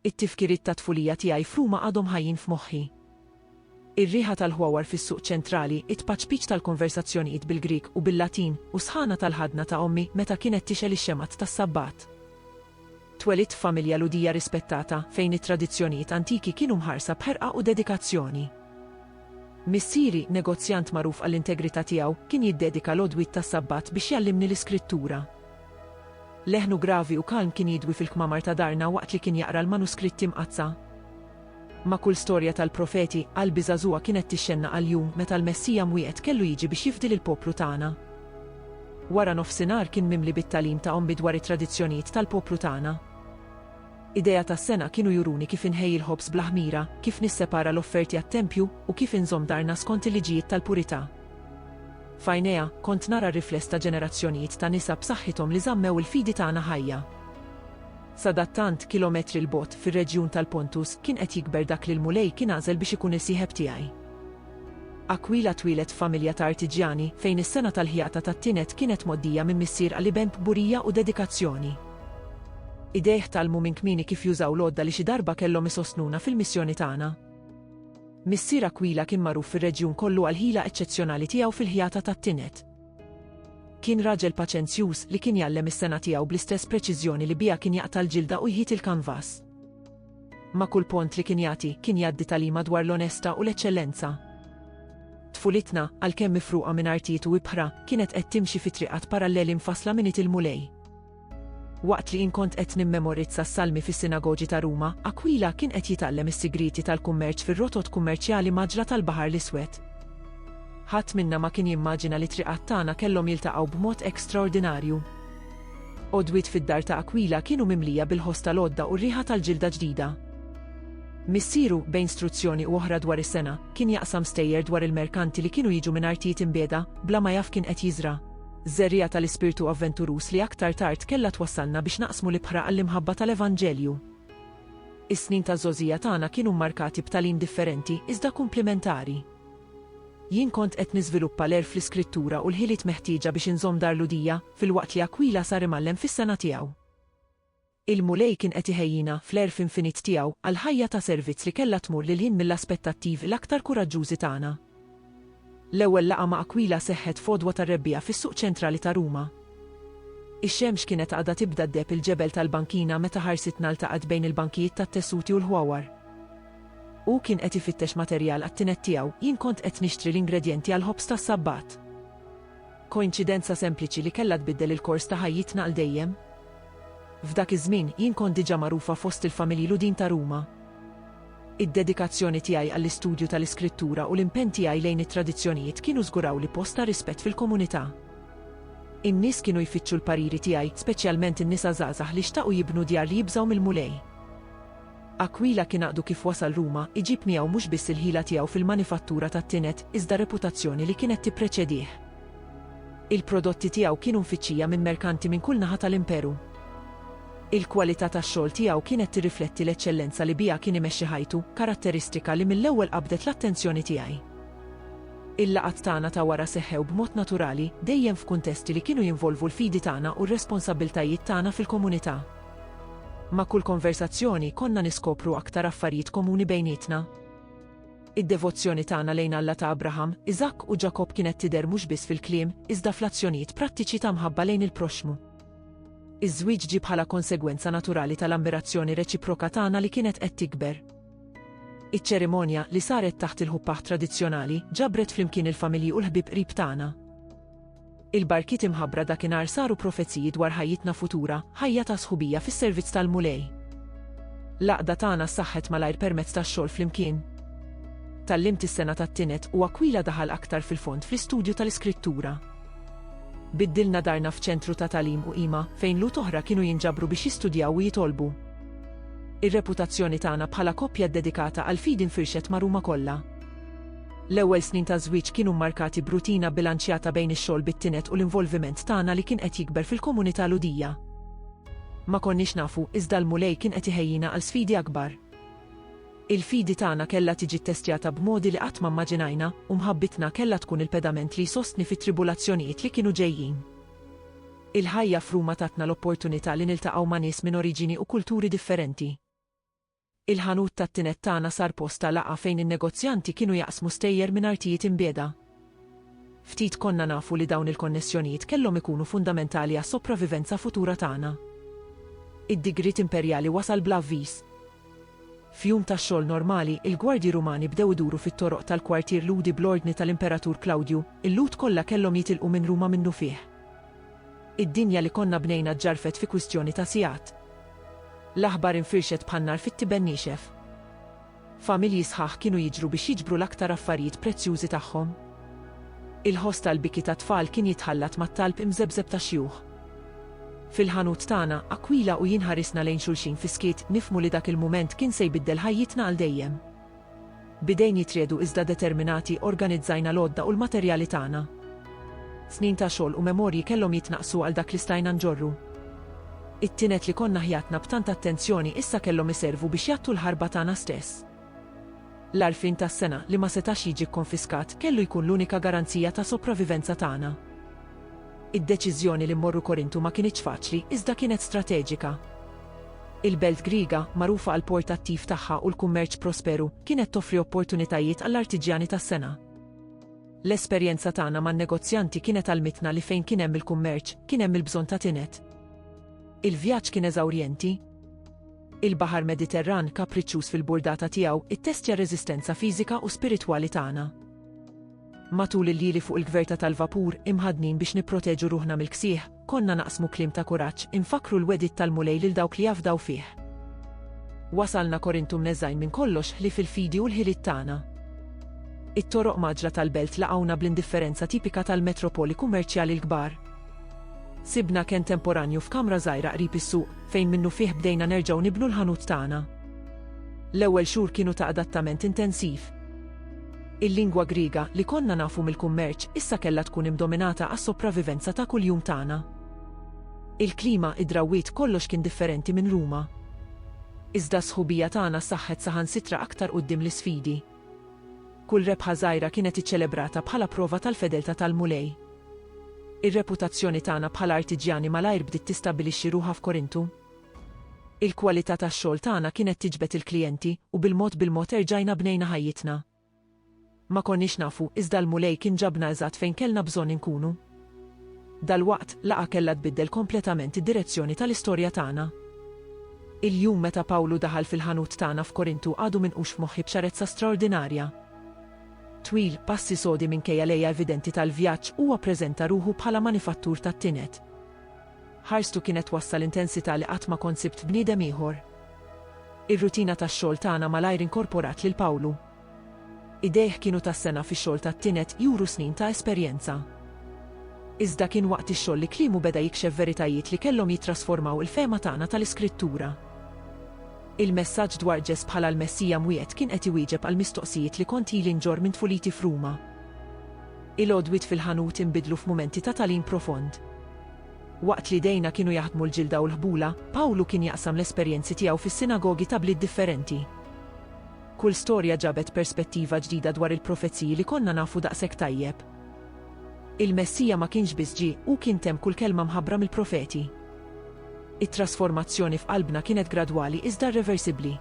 It-tifkiriet tat-tfulija tiegħi f'Ruma għadhom ħajjin f'moħħi. Ir-riħa tal-ħwawar fis-Suq Ċentrali, it-tpaċpiċ tal-konversazzjonijiet bil-Grieg u bil-Latin, u s-sħana tal-ħadna ta' ommi meta kienet tixgħel ix-xemgħat tas-Sabbat. Twelidt f'familja Lhudija rispettata, fejn it-tradizzjonijiet antiki kienu mħarsa b'ħerqa u dedikazzjoni. Missieri, negozjant magħruf għall-integrità tiegħu, kien jiddedika l-għodwiet tas-Sabbat biex jgħallimni l-Iskrittura. Leħnu gravi u kalm kien jidwi fil-kmamar ta' darna waqt li kien jaqra l-manuskritti mqaddsa. Ma' kull storja tal-profeti, qalbi żagħżugħa kienet tixxennaq għall-jum meta l-Messija mwiegħed kellu jiġi biex jifdi lill-poplu tagħna. Wara nofsinhar kien mimli bit-tagħlim ta' ommi dwar it-tradizzjonijiet tal-poplu tagħna. Idejha tas-sengħa kienu juruni kif inħejji l-ħobż bla ħmira, kif nissepara l-offerti għat-tempju, u kif inżomm darna skont il-liġijiet tal-purità. F'għajnejha, kont nara r-rifless ta' ġenerazzjonijiet ta' nisa b'saħħithom li żammew il-fidi tagħna ħajja. Sadattant, kilometri 'l bogħod, fir-reġjun tal-Pontus, kien qed jikber dak li l-Mulej kien għażel biex ikun is-sieħeb tiegħi. Aquila twieled f'familja ta' artiġjani, fejn is-sengħa tal-ħjata tat-tined kienet mgħoddija minn missier għal iben b'kburija u dedikazzjoni. Idejh tgħallmu minn kmieni kif jużaw l-għodda li xi darba kellhom isostnuna fil-missjoni tagħna. Missier Aquila kien magħruf fir-reġjun kollu għall-ħila eċċezzjonali tiegħu fil-ħjata tat-tined. Kien raġel paċenzjuż li kien jgħallem is-sengħa tiegħu bl-istess preċiżjoni li biha kien jaqta' l-ġilda u jħit il-kanvas. Ma' kull pont li kien jagħti, kien jgħaddi tagħlima dwar l-onestà u l-eċċellenza. Tfulitna, għalkemm mifruqa minn artijiet u ibħra, kienet qed timxi fi triqat paralleli mfassla minn id il-Mulej. Waqt li jien kont qed nimmemorizza s-salmi fis-sinagogi ta' Ruma, Akwila kien qed jitgħallem is-sigrieti tal-kummerċ fir-rotot kummerċjali mgħaġġla tal-Baħar l-Iswed. Ħadd minna ma kien jimmaġina li t-triqat tagħna kellhom jiltaqgħu b'mod extraordinarju. Għodwiet fid-dar ta' Akwila kienu mimlija bil-ħoss tal-għodda u r-riħa tal-ġilda ġdida. Missieru, bejn struzzjoni u oħra dwar is-sengħa, kien jaqsam stejjer dwar il-merkanti li kienu jiġu minn artijiet imbiegħda, bla ma jaf kien qed jiżra'. żerriegħa tal-ispirtu avventuruż li aktar tard kellha twassalna biex naqsmu l-ibħra għall-imħabba tal-Evanġelju. Is-snin taż-żgħożija tagħna kienu mmarkati b'tagħlim differenti iżda kumplimentari. Jien kont qed niżviluppa l-għerf fl-Iskrittura u l-ħiliet meħtieġa biex inżomm dar Lhudija, filwaqt li Aquila sar imgħallem fis-sengħa tiegħu. Il-Mulej kien qed iħejjina, fl-għerf infinit tiegħu, għal ħajja ta' servizz li kellha tmur lil hinn mill-aspettattivi l-aktar kuraġġużi tagħna. L-ewwel laqgħa ma' Akwila seħħet f'għodwa tar-rebbiegħa fis-suq ċentrali ta' Ruma. Ix-xemx kienet għadha tibda ddeheb il-ġebel tal-bankina meta ħarsitna ltaqgħet bejn il-bankijiet tat-tessuti u l-ħwawar. Hu kien qed ifittex materjal għat-tined tiegħu, jien kont qed nixtri l-ingredjenti għall-ħobż tas-Sabbat. Koinċidenza sempliċi li kellha tbiddel il-kors ta' ħajjitna għal dejjem? F'dak iż-żmien, jien kont diġà magħrufa fost il-familji Lhudin ta' Ruma. Id-dedikazzjoni tiegħi għall-istudju tal-Iskrittura u l-impenn tiegħi lejn it-tradizzjonijiet kienu żgurawli post ta' rispett fil-komunità. In-nies kienu jfittxu l-pariri tiegħi, speċjalment in-nisa żgħażagħ li xtaqu jibnu djar li jibżgħu mill-Mulej. Aquila kien għaqdu kif wasal Ruma, iġib miegħu mhux biss il-ħila tiegħu fil-manifattura tat-tined, iżda r-reputazzjoni li kienet tippreċedih. Il-prodotti tiegħu kienu mfittxija minn merkanti minn kull naħa tal-Imperu. Il-kwalità tax-xogħol tiegħu kienet tirrifletti l-eċċellenza li biha kien imexxi ħajtu, karatteristika li mill-ewwel qabdet l-attenzjoni tiegħi. Il-laqgħat tagħna ta' wara seħħew b'mod naturali, dejjem f'kuntesti li kienu jinvolvu l-fidi tagħna u r-responsabbiltajiet tagħna fil-komunità. Ma' kull konversazzjoni konna niskopru aktar affarijiet komuni bejnietna. Id-devozzjoni tagħna lejn Alla ta' Abraham, Iżakk u Ġakobb kienet tidher mhux biss fil-kliem, iżda fl-azzjonijiet prattiċi ta' mħabba lejn il-proxxmu. Iż-żwieġ ġie bħala konsegwenza naturali tal-ammirazzjoni reċiproka tagħna li kienet qed tikber. Iċ-ċerimonja, li saret taħt il-ħuppah tradizzjonali, ġabret flimkien il-familji u l-ħbieb qrib tagħna. Il-barkiet imħabbra dakinhar saru profeziji dwar ħajjitna futura, ħajja ta' sħubija fis-servizz tal-Mulej. L-għaqda tagħna ssaħħet malajr permezz tax-xogħol flimkien. Tgħallimt is-sengħa tat-tined u Aquila daħal aktar fil-fond fl-istudju tal-Iskrittura. Biddilna darna f'ċentru ta' tagħlim u qima fejn lut oħra kienu jinġabru biex jistudjaw u jitolbu. Ir-reputazzjoni tagħna bħala koppja ddedikata għall-fidi nfirxet ma' Ruma kollha. L-ewwel snin ta' żwieġ kienu mmarkati b'rutina bbilanċjata bejn ix-xogħol bit-tined u l-involviment tagħna li kien qed jikber fil-komunità Lhudija. Ma konniex nafu, iżda l-Mulej kien qed iħejjina għal sfidi akbar. Il-fidi tagħna kellha tiġi ttestjata b'modi li qatt ma mmaġinajna, u mħabbitna kellha tkun il-pedament li jsostni fit-tribulazzjonijiet li kienu ġejjin. Il-ħajja f'Ruma tatna l-opportunità li niltaqgħu ma' nies minn oriġini u kulturi differenti. Il-ħanut tat-tined tagħna sar post ta' laqgħa fejn in-negozjanti kienu jaqsmu stejjer minn artijiet imbiegħda. Ftit konna nafu li dawn il-konnessjonijiet kellhom ikunu fundamentali għas-sopravivenza futura tagħna. Id-digriet imperjali wasal bla avviż. F'jum ta' xogħol normali, il-gwardji Rumani bdew iduru fit-toroq tal-kwartier Lhudi bl-ordni tal-Imperatur Klawdju, il-Lhud kollha kellhom jitilqu minn Ruma minnufih. Id-dinja li konna bnejna ġġarfet fi kwistjoni ta' sigħat. L-aħbar infirxet bħan-nar fit-tiben niexef. Familji sħaħ kienu jiġru biex jiġbru l-aktar affarijiet prezzjużi tagħhom. Il-ħoss tal-biki tat-tfal kien jitħallat mat-talb imżebżeb ta' xjuħ. Fil-ħanut tagħna, Aquila u jien ħarisna lejn xulxin fis-skiet, nifhmu li dak il-mument kien se jbiddel ħajjitna għal dejjem. B'idejn jitriegħdu iżda determinati organizzajna l-għodda u l-materjali tagħna. Snin ta' xogħol u memorji kellhom jitnaqqsu għal dak li stajna nġorru. It-tined li konna ħjatna b'tant attenzjoni issa kellhom iservu biex jgħattu l-ħarba tagħna stess. L-għarfien tas-sengħa, li ma setax jiġi kkonfiskat, kellu jkun l-unika garanzija ta' sopravivenza tagħna. Id-deċiżjoni li mmorru Korintu ma kinitx faċli, iżda kienet strateġika. Il-belt Griega, magħrufa għall-port attiv tagħha u l-kummerċ prosperu, kienet toffri opportunitajiet għall-artiġjani tas-sengħa. L-esperjenza tagħna man-negozjanti kienet għallmitna li fejn kien hemm il-kummerċ, kien hemm il-bżonn ta' tined. Il-vjaġġ kien eżawrjenti. Il-Baħar Mediterran, kapriċċuż fil-burdata tiegħu, ittestja r-reżistenza fiżika u spiritwali tagħna. Matul il-lieli fuq il-gverta tal-vapur, imħaddnin biex nipproteġu ruħna mill-ksieħ, konna naqsmu kliem ta' kuraġġ, infakkru l-wegħdiet tal-Mulej lil dawk li jafdaw fih. Wasalna Korintu mneżżgħin minn kollox ħlief il-fidi u l-ħiliet tagħna. It-toroq mgħaġġla tal-belt laqgħuna bl-indifferenza tipika tal-metropoli kummerċjali l-kbar. Sibna kenn temporanju f'kamra żgħira qrib is-suq, fejn minnufih bdejna nerġgħu nibnu l-ħanut tagħna. L-ewwel xhur kienu ta' adattament intensiv. Il-lingwa Griega, li konna nafu mill-kummerċ, issa kellha tkun imdominata għas-sopravivenza ta' kuljum tagħna. Il-klima, id-drawwiet, kollox kien differenti minn Ruma. Iżda s-sħubija tagħna saħħet saħansitra aktar quddiem l-isfidi. Kull rebħa żgħira kienet iċċelebrata bħala prova tal-fedeltà tal-Mulej. Ir-reputazzjoni tagħna bħala artiġjani malajr bdiet tistabbilixxi ruħha f'Korintu. Il-kwalità tax-xogħol tagħna kienet tiġbed il-klijenti u bil-mod bil-mod erġajna bnejna ħajjitna. Ma konniex nafu, iżda l-Mulej kien ġabna eżatt fejn kellna bżonn inkunu. Dalwaqt, laqgħa kellha tbiddel kompletament id-direzzjoni tal-istorja tagħna. Il-jum meta Pawlu daħal fil-ħanut tagħna f'Korintu għadu minqux f'moħħi b'ċarezza straordinarja. Twil, passi sodi minkejja l-għeja evidenti tal-vjaġġ, huwa ppreżenta ruħu bħala manifattur tat-tined. Ħarstu kienet wassal intensità li qatt ma kont sibt f'bniedem ieħor. Ir-rutina tax-xogħol tagħna malajr inkorporat lil Pawlu. Idejh kienu ta' sena fix-xogħol tat-tined juru snin ta' esperjenza. Iżda kien waqt ix-xogħol li kliemu beda jikxef veritajiet li kellhom jittrasformaw il-fehma tagħna tal-Iskrittura. Il-messaġġ dwar Ġess bħala l-Messija mwiegħed kien qed iwieġeb għall-mistoqsijiet li kont ili nġorr minn tfuliti f'Ruma. Il-għodwiet fil-ħanut inbidlu f'mumenti ta' tagħlim profond. Waqt li idejna kienu jaħdmu l-ġilda u l-ħbula, Pawlu kien jaqsam l-esperjenzi tiegħu fis-sinagogi ta' bliet differenti. Kull storja ġabet perspettiva ġdida dwar il-profeziji li konna nafu daqshekk tajjeb. Il-Messija ma kienx biss ġie, hu kien temm kull kelma mħabbra mill-profeti. It-trasformazzjoni f'qalbna kienet gradwali iżda rreversibbli.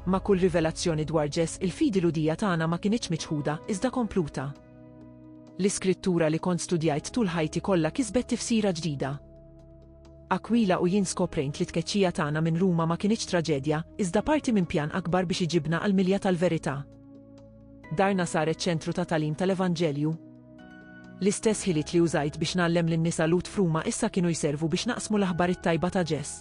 Ma' kull rivelazzjoni dwar Ġes, il-fidi Lhudija tagħna ma kinitx miċħuda, iżda kompluta. L-iskrittura li kont studjajt tul ħajti kollha kisbet tifsira ġdida. Akwila u jien skoprejnt li tkeċċija tagħna minn Ruma ma kinitx traġedja, iżda parti minn pjan akbar biex iġibna għall-milja tal-verità. Darna saret ċentru ta' tagħlim tal-Evanġelju. L-istess ħiliet li użajt biex ngħallem lin-nisa Lut f'Ruma issa kienu jservu biex naqsmu l-aħbar it-tajba ta' Ġess.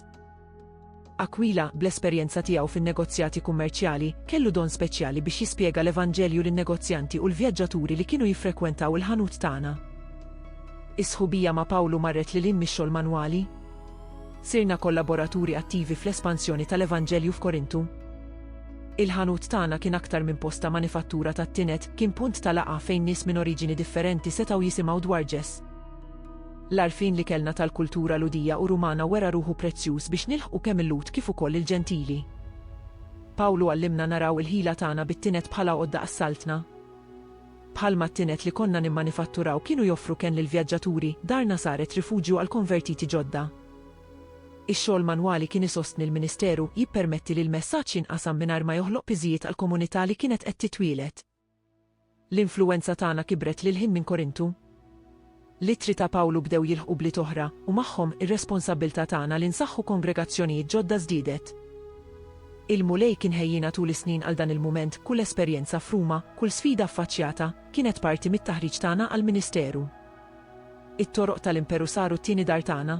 Aquila, bl-esperjenza tiegħu fin-negozjati kummerċjali, kellu don speċjali biex jispjega l-Evanġelju lin-negozjanti u l-vjaġġaturi li kienu jiffrekkwentaw il-ħanut tagħna. Is-sħubija ma' Pawlu marret lil hinn mix-xogħol manwali. Sirna kollaboraturi attivi fl-espansjoni tal-Evanġelju f'Korintu. Il-ħanut tagħna kien aktar minn post ta' manifattura tat-tined, kien punt ta' laqgħa fejn nies minn oriġini differenti setgħu jisimgħu dwar Ġes. L-għarfien li kellna tal-kultura Lhudija u Rumana wera ruħu prezzjuż biex nilħqu kemm il-Lhud kif ukoll il-Ġentili. Pawlu għallimna naraw il-ħila tagħna bit-tined bħala għodda għas-Saltna. Bħalma t-tined li konna nimmanifatturaw kienu joffru kenn lill-vjaġġaturi, darna saret rifuġju għall-konvertiti ġodda. Ix-xogħol manwali kien isostni l-ministeru, jippermetti li l-messaġġ jinqasam mingħajr ma joħloq piżijiet għall-komunità li kienet qed titwieled. L-influwenza tagħna kibret lil hinn minn Korintu. L-ittri ta' Pawlu bdew jilħqu bliet oħra, u magħhom ir-responsabbiltà tagħna li nsaħħu kongregazzjonijiet ġodda żdiedet. Il-Mulej kien ħejjiena tul is-snin għal dan il-mument, kull esperjenza f'Ruma, kull sfida ffaċċjata, kienet parti mit-taħriġ tagħna għall-ministeru. It-toroq tal-Imperu saru t-tieni dar tagħna.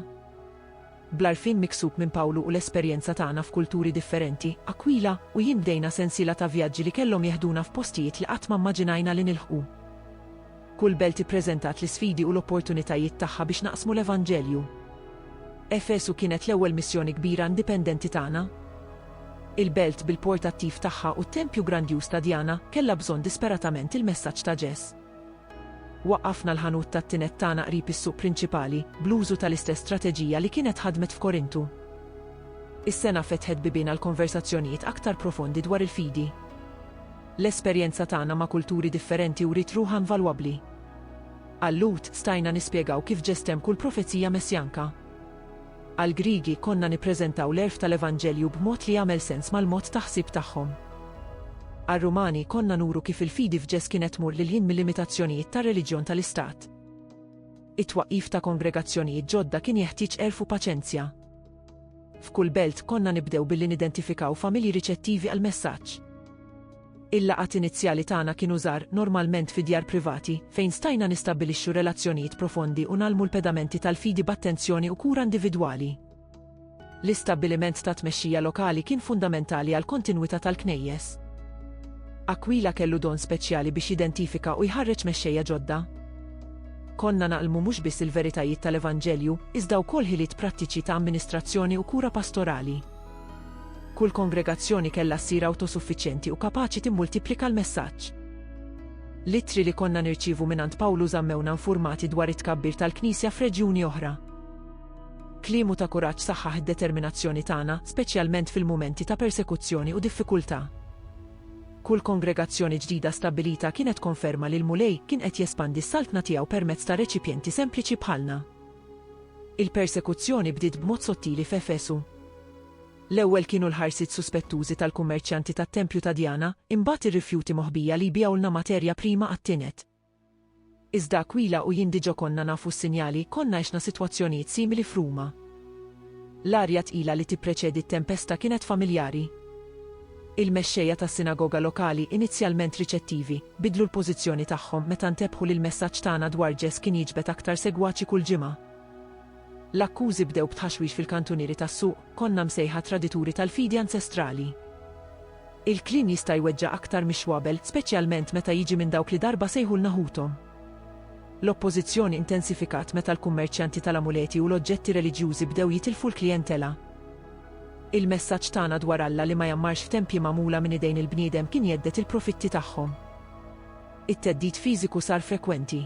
Bl-għarfien miksub minn Pawlu u l-esperjenza tagħna f'kulturi differenti, Aquila u jien bdejna sensiela ta' vjaġġi li kellhom jeħduna f'postijiet li qatt ma mmaġinajna li nilħqu. Kull belt ippreżentat l-isfidi u l-opportunitajiet tagħha biex naqsmu l-Evanġelju. Efesu kienet l-ewwel missjoni kbira indipendenti tagħna. Il-belt bil-port attiv tagħha u t-tempju grandjuż ta' Diana kellha bżonn disperatament il-messaġġ ta' Ġes. Waqqafna l-ħanut tat-tined tagħna qrib is-suq prinċipali, bl-użu tal-istess strateġija li kienet ħadmet f'Korintu. Is-sengħa fetħet bibien għal konversazzjonijiet aktar profondi dwar il-fidi. L-esperjenza tagħna ma' kulturi differenti wriet ruħha invalwabbli. Għal Lhud, stajna nispjegaw kif ġestem kull profezija messjanka. Għall-Griegi konna nippreżentaw l-għerf tal-Evanġelju b'mod li jagħmel sens mal-mod ta' ħsieb tagħhom. Għar-Rumani konna nuru kif il-fidi f'Ġes kienet tmur lil hinn mil-limitazzjonijiet tar-reliġjon tal-istat. It-twaqqif ta' kongregazzjonijiet ġodda kien jeħtieġ għerf u paċenzja. F'kull belt konna nibdew billi nidentifikaw familji riċettivi għall-messaġġ. Il-laqgħat inizjali tagħna kienu żgħar, normalment fi djar privati, fejn stajna nistabbilixxu relazzjonijiet profondi u ngħallmu l-pedamenti tal-fidi b'attenzjoni u kura individwali. L-istabbiliment ta' tmexxija lokali kien fundamentali għall-kontinwità tal-Knejjes. Aquila kellu don speċjali biex jidentifika u jħarreġ mexxejja ġodda. Konna naqlmu mhux biss il-veritajiet tal-Evanġelju, iżda wkoll ħiliet prattiċi ta' amministrazzjoni u kura pastorali. Kull kongregazzjoni kellha ssir awtosuffiċjenti u kapaċi timmultiplika l-messaġġ. L-ittri li konna nirċievu mingħand Pawlu żammewna infurmati dwar it-tkabbir tal-Knisja f'reġjuni oħra. Kliemu ta' kuraġġ saħħaħ id-determinazzjoni tagħna, speċjalment fil-mumenti ta' persekuzzjoni u diffikultà. Kull kongregazzjoni ġdida stabbilita kienet konferma li l-Mulej kien qed jespandi s-saltna tiegħu permezz ta' reċipjenti sempliċi bħalna. Il-persekuzzjoni bdiet b'mod sottili f'Efesu. L-ewwel kienu l-ħarsiet suspettużi tal-kummerċjanti tat-tempju ta' Djana, imbagħad ir-rifjuti moħbija li jbigħulna materja prima għat-tinet. Iżda Akwila u jien diġà konna nafu s-sinjali, konna għexna sitwazzjonijiet simili f'Ruma. L-arja tqila li tippreċedi t-tempesta kienet familjari. Il-mexxejja tas-sinagoga lokali, inizjalment riċettivi, biddlu l-pożizzjoni tagħhom meta ntebħu li l-messaġġ tagħna dwar Ġess kien jiġbed aktar segwaċi kull ġimgħa. L-akkużi bdew b'tħaxwix fil-kantunieri tas-suq, Konna msejħa tradituri tal-fidi anċestrali. Il-kliem jista' jweġġa' aktar mix-xwabel, speċjalment meta jiġi minn dawk li darba sejħulna ħuthom. L-oppożizzjoni intensifikat meta l-kummerċjanti tal-amuleti u l-oġġetti reliġjużi bdew jitilfu l-klijentela. Il-messaġġ tagħna dwar Alla li ma jgħammarx f'tempji magħmula minn idejn il-bniedem kien jhedded il-profitti tagħhom. It-theddid fiżiku sar frekwenti.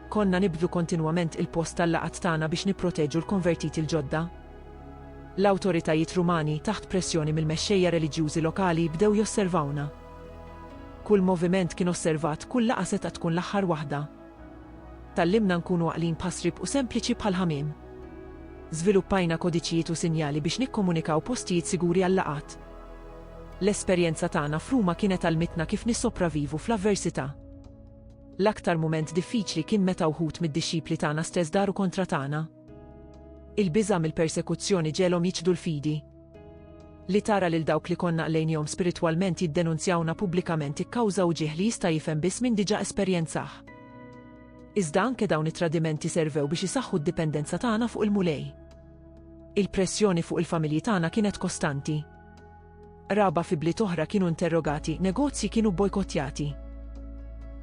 Konna nibdlu kontinwament il-post tal-laqgħat tagħna biex nipproteġu l-konvertiti l-ġodda. L-awtoritajiet Rumani, taħt pressjoni mill-mexxejja reliġjużi lokali, bdew josservawna. Kull moviment kien osservat, kull laqgħa setgħet tkun l-aħħar waħda. Tgħallimna nkunu għaqlin bħas-sriep u sempliċi bħall-ħamiem. Żviluppajna kodiċijiet u sinjali biex nikkomunikaw postijiet siguri għal-laqgħat. L-esperjenza tagħna f'Ruma kienet għallmitna kif nissopravivu fl-avversità. L-aktar mument diffiċli kien meta wħud mid-dixxipli tagħna stess daru kontra tagħna. Il-biża' mill-persekuzzjoni ġegħelhom jiċħdu l-fidi. Li tara lil dawk li konna qlejnihom spiritwalment jiddenunzjawna pubblikament ikkawża wġigħ li jista' jifhem biss min diġà esperjenzah. Iżda anke dawn it-tradimenti servew biex isaħħu d-dipendenza tagħna fuq il-Mulej. Il-pressjoni fuq il-familji tagħna kienet kostanti. Qraba fi bliet oħra kienu interrogati, negozji kienu bbojkottjati.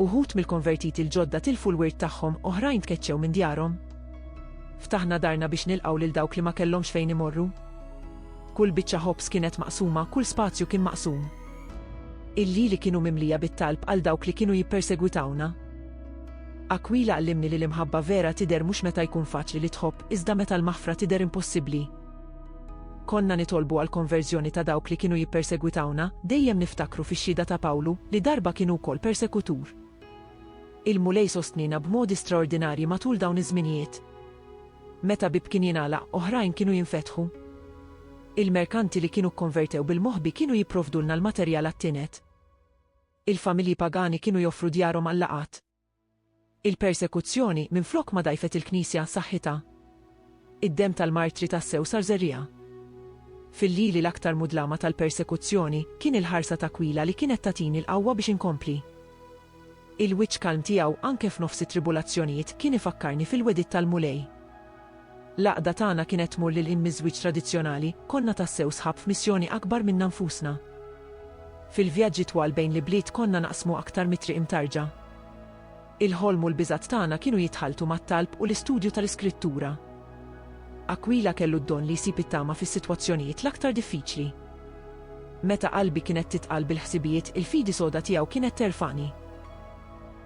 Uħud mill-konvertiti l-ġodda tilfu l-wirt tagħhom, oħrajn tkeċċew minn djarhom. Ftaħna darna biex nilqgħu lil dawk li ma kellhomx fejn imorru. Kull biċċa ħobż kienet maqsuma, kull spazju kien maqsum. Il-lili kienu mimlija bit-talb għal dawk li kienu jippersegwitawna. Akwila għallimni li l-imħabba vera tidher mhux meta jkun faċli li tħobb, iżda meta l-maħfra tidher impossibbli. Konna nitolbu għall-konverżjoni ta' dawk li kienu jippersegwitawna, dejjem niftakru fix-xhieda ta' Pawlu, li darba kien hu wkoll persekutur. Il-Mulej sostniena b'modi straordinarji matul dawn iż-żminijiet. Meta bieb kien jingħalaq, oħrajn kienu jinfetħu. Il-merkanti li kienu kkonvertew bil-moħbi kienu jipprovdulna l-materjal għat-tined. Il-familji pagani kienu joffru djarhom għal-laqgħat. Il-persekuzzjoni, minflok ma dgħajfet il-Knisja saħħitha. Id-demm tal-martri tassew sar żerriegħa. Fil-lili l-aktar mudlama tal-persekuzzjoni, kien il-ħarsa t'Akwila li kienet tagħtini l-qawwa biex inkompli. Il-wiċċ kalm tiegħu anke f'nofs it-tribulazzjonijiet kien ifakkarni fil-wegħdiet tal-Mulej. L-għaqda tagħna kienet tmur lil hinn miż-żwieġ tradizzjonali, konna tassew sħab f'missjoni akbar minna nfusna. Fil-vjaġġi twal bejn l-ibliet konna naqsmu aktar mit-triq imtarġa. Il-ħolm u l-biżgħat tagħna kienu jitħalltu mat-talb u l-istudju tal-Iskrittura. Akwila kellu d-don li jsib it-tama fis-sitwazzjonijiet l-aktar diffiċli. Meta qalbi kienet titqal bil-ħsibijiet, il-fidi soda tiegħu kienet terfagħni.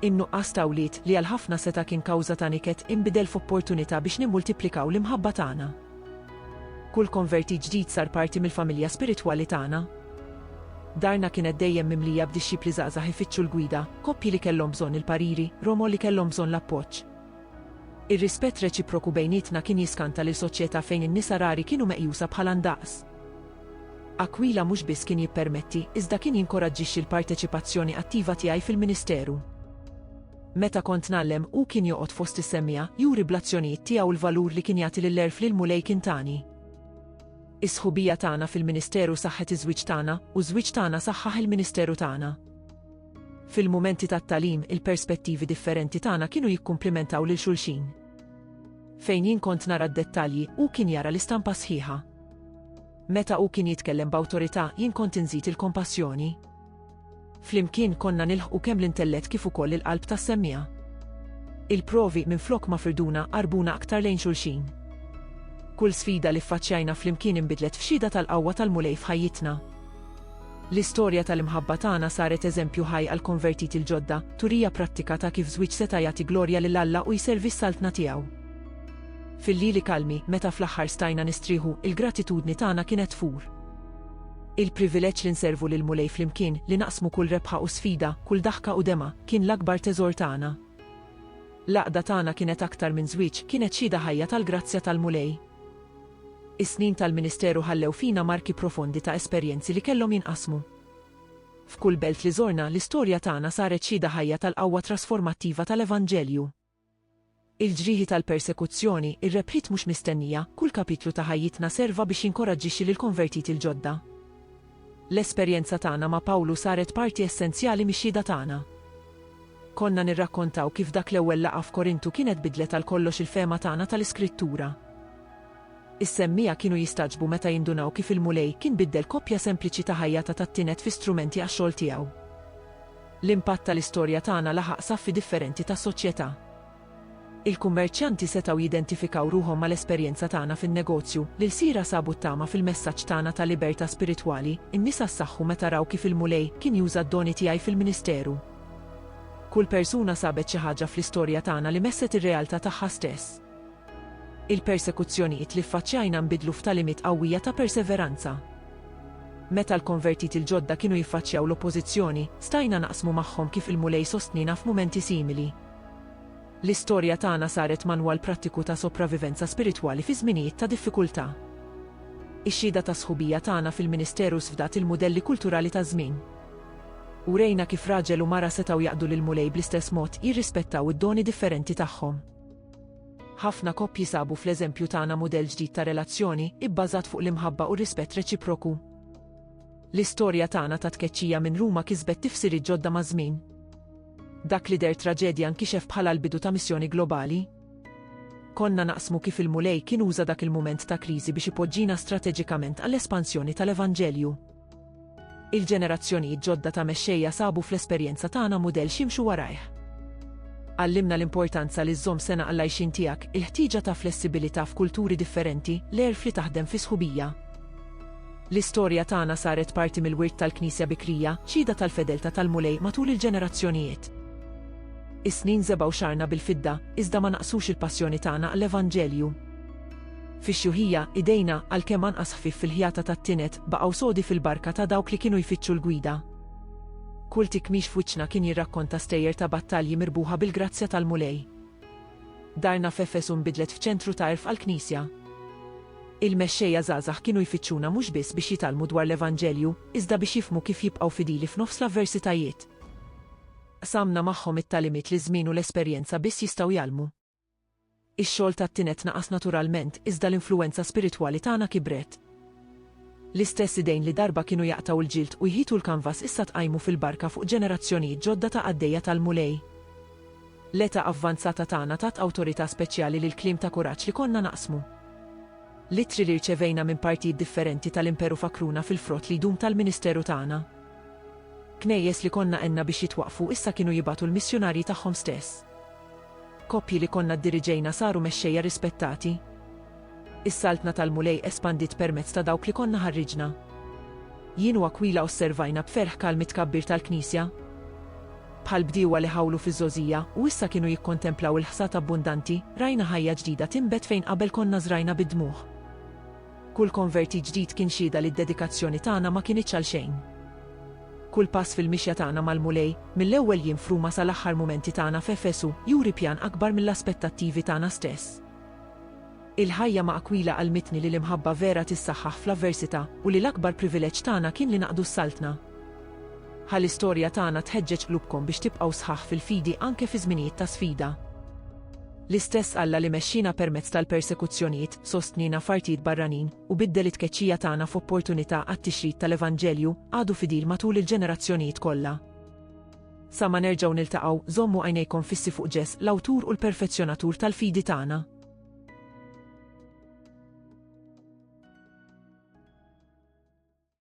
In-nuqqas ta' wlied, li għal ħafna seta' kien kawża ta' niket, inbidel f'opportunità biex nimmultiplikaw l-imħabba tagħna. Kull konvertit ġdid sar parti mill-familja spiritwali tagħna. Darna kienet dejjem mimlija b'dixxipli żgħażagħ ifittxu l-gwida, koppji li kellhom bżonn il-pariri, romol li kellhom bżonn l-appoġġ. Ir-rispett reċiproku bejnietna kien jiskanta lil soċjetà fejn in-nisa rari kienu meqjusa bħala ndaqs. Aquila mhux biss kien jippermetti, iżda kien jinkoraġġixxi l-parteċipazzjoni attiva tiegħi fil-ministeru. Meta kont ngħallem, hu kien joqgħod fost is-semmiegħa, juri bl-azzjonijiet tiegħu l-valur li kien jagħti lill-għerf li l-Mulej kien tani. Is-sħubija tagħna fil-ministeru saħħet iż-żwieġ tagħna, u ż-żwieġ tagħna saħħaħ il-ministeru tagħna. Fil-mumenti tat-tagħlim, il-perspettivi differenti tagħna kienu jikkumplimentaw lil xulxin. Fejn jien kont nara d-dettalji, hu kien jara l-istampa sħiħa. Meta hu kien jitkellem b'awtorità, jien kont inżid il-kompassjoni. Flimkien konna nilħqu kemm l-intellett kif ukoll il-qalb tas-semmiegħa. Il-provi minflok ma firduna qarbuna aktar lejn xulxin. Kull sfida li ffaċċjajna flimkien inbidlet f'xhieda tal-qawwa tal-Mulej f'ħajjitna. L-istorja tal-imħabba tagħna saret eżempju ħaj għall-konvertiti l-ġodda, turija prattika ta' kif żwieġ seta' jagħti glorja lil Alla u jservi s-Saltna tiegħu. Fil-lili kalmi, meta fl-aħħar stajna nistrieħu, il-gratitudni tagħna kienet tfur. Il-privileġġ li nservu lill-Mulej flimkien, li naqsmu kull rebħa u sfida, kull daħka u dema, kien l-akbar teżor tagħna. L-għaqda tagħna kienet aktar minn żwieġ, kienet xhieda ħajja tal-grazzja tal-Mulej. Is-snin tal-ministeru ħallew fina marki profondi ta' esperjenzi li kellhom jinqasmu. F'kull belt li żorna, l-istorja tagħna saret xhieda ħajja tal-qawwa trasformattiva tal-Evanġelju. Il-ġrieħi tal-persekuzzjoni, ir-rebħiet mhux mistennija, kull kapitlu ta' ħajjitna serva biex jinkoraġġixxi lill-konvertiti l-ġodda. L-esperjenza tagħna ma' Pawlu saret parti essenzjali mix-xhieda tagħna. Konna nirrakkontaw kif dak l-ewwel laqgħa f'Korintu kienet biddlet għal kollox il-fehma tagħna tal-Iskrittura. Is-semmiegħa kienu jistagħġbu meta jindunaw kif il-Mulej kien biddel koppja sempliċi ta' ħajja ta' tat-tined fi strumenti għax-xogħol tiegħu. L-impatt tal-istorja tagħna laħaq saffi differenti ta' soċjetà. Il-kummerċjanti setgħu jidentifikaw ruħhom mal-esperjenza tagħna fin-negozju. L-ilsira sabu t-tama fil-messaġġ tagħna ta' libertà spiritwali. In-nisa ssaħħu meta raw kif il-Mulej kien juża d-doni tiegħi fil-ministeru. Kull persuna sabet xi ħaġa fl-istorja tagħna li messet ir-realtà tagħha stess. Il-persekuzzjonijiet li ffaċċjajna nbidlu f'tagħlimiet qawwija ta' perseveranza. Meta l-konvertiti l-ġodda kienu jiffaċċjaw l-oppożizzjoni, stajna naqsmu magħhom kif il-Mulej sostniena f'mumenti simili. L-istorja tagħna saret manwal prattiku ta' sopravivenza spiritwali fi żminijiet ta' diffikultà. Ix-xhieda tas-sħubija tagħna fil-ministeru sfdat il-mudelli kulturali taż-żmien. Urejna kif raġel u mara setgħu jaqdu lill-Mulej bl-istess mod, jirrispettaw id-doni differenti tagħhom. Ħafna koppji sabu fl-eżempju tagħna mudell ġdid ta' relazzjoni, ibbażat fuq l-imħabba u r-rispett reċiproku. L-istorja tagħna ta' tkeċċija minn Ruma kisbet tifsiriet ġodda maż-żmien. Dak li deher traġedja nkixef bħala l-bidu ta' missjoni globali. Konna naqsmu kif il-Mulej kien uża dak il-mument ta' kriżi biex ipoġġina strateġikament għall-espansjoni tal-Evanġelju. Il-ġenerazzjonijiet ġodda ta' mexxejja sabu fl-esperjenza tagħna mudell x'jimxu warajh. Għallimna l-importanza li żżomm sengħa għall-għajxien tiegħek, il-ħtieġa ta' flessibilità f'kulturi differenti, l-għerf li taħdem fi sħubija, L-istorja tagħna saret parti mill-wirt tal-Knisja bikrija, xhieda tal-fedeltà tal-Mulej matul il-ġenerazzjonijiet. Is-snin żebgħu xagħarna bil-fidda, iżda ma naqqsux il-passjoni tagħna għall-Evanġelju. Fix-xjuħija, idejna, għalkemm anqas ħfief fil-ħjata tat-tined, baqgħu sodi fil-barka ta' dawk li kienu jfittxu l-gwida. Kull tikmix f'wiċċna kien jirrakkonta stejjer ta' battalji mirbuħa bil-grazzja tal-Mulej. Darna f'Efesu nbidlet f'ċentru ta' għerf għall-Knisja. Il-mexxejja żgħażagħ kienu jfittxuna mhux biss biex jitgħallmu dwar l-Evanġelju, iżda biex jifhmu kif jibqgħu fidili f'nofs l-avversitajiet. Qsamna magħhom it-tagħlimiet li ż-żmien u l-esperjenza biss jistgħu jgħallmu. Ix-xogħol tat-tined naqas naturalment, iżda l-influwenza spiritwali tagħna kibret. L-istess idejn li darba kienu jaqtgħu l-ġild u jħitu l-kanvas issa tqajmu fil-barka fuq ġenerazzjonijiet ġodda ta' qaddejja tal-Mulej. L-età avvanzata tagħna tat awtorità speċjali lill-kliem ta' kuraġġ li konna naqsmu. L-ittri li rċevejna minn partijiet differenti tal-Imperu fakkruna fil-frott li jdum tal-ministeru tagħna. Knejjes li konna għenna biex jitwaqqfu issa kienu jibagħtu l-missjunarji tagħhom stess. Koppji li konna ddiriġejna saru mexxejja rispettati. Is-Saltna tal-Mulej espandiet permezz ta' dawk li konna ħarriġna. Jien u Akwila osservajna b'ferħ kalm it-tkabbir tal-Knisja. Bħal bdiewa li ħawlu fiż-żgħożija u issa kienu jikkontemplaw il-ħsad abbundanti, rajna ħajja ġdida tinbet fejn qabel konna żrajna bid-dmugħ. Kull konvertit ġdid kien xhieda li d-dedikazzjoni tagħna ma kinitx għalxejn. Kull pass fil-mixja tagħna mal-Mulej, mill-ewwel jiem f'Ruma sal-aħħar mumenti tagħna f'Efesu, juri pjan akbar mill-aspettattivi tagħna stess. Il-ħajja ma' Aquila għallmitni li l-imħabba vera tissaħħaħ fl-avversità u li l-akbar privileġġ tagħna kien li naqdu s-Saltna. Ħa l-istorja tagħna tħeġġeġ qlubkom biex tibqgħu sħaħ fil-fidi anke fi żminijiet ta' sfida. L-istess Alla li mexxiena permezz tal-persekuzzjonijiet, sostniena f'artijiet barranin, u biddel it-tkeċċija tagħna f'opportunità għat-tixrid tal-Evanġelju, għadu fidil matul il-ġenerazzjonijiet kollha. Sa ma nerġgħu niltaqgħu, żommu għajnejkom fissi fuq Ġess, l-Awtur u l-Perfezzjonatur tal-fidi tagħna.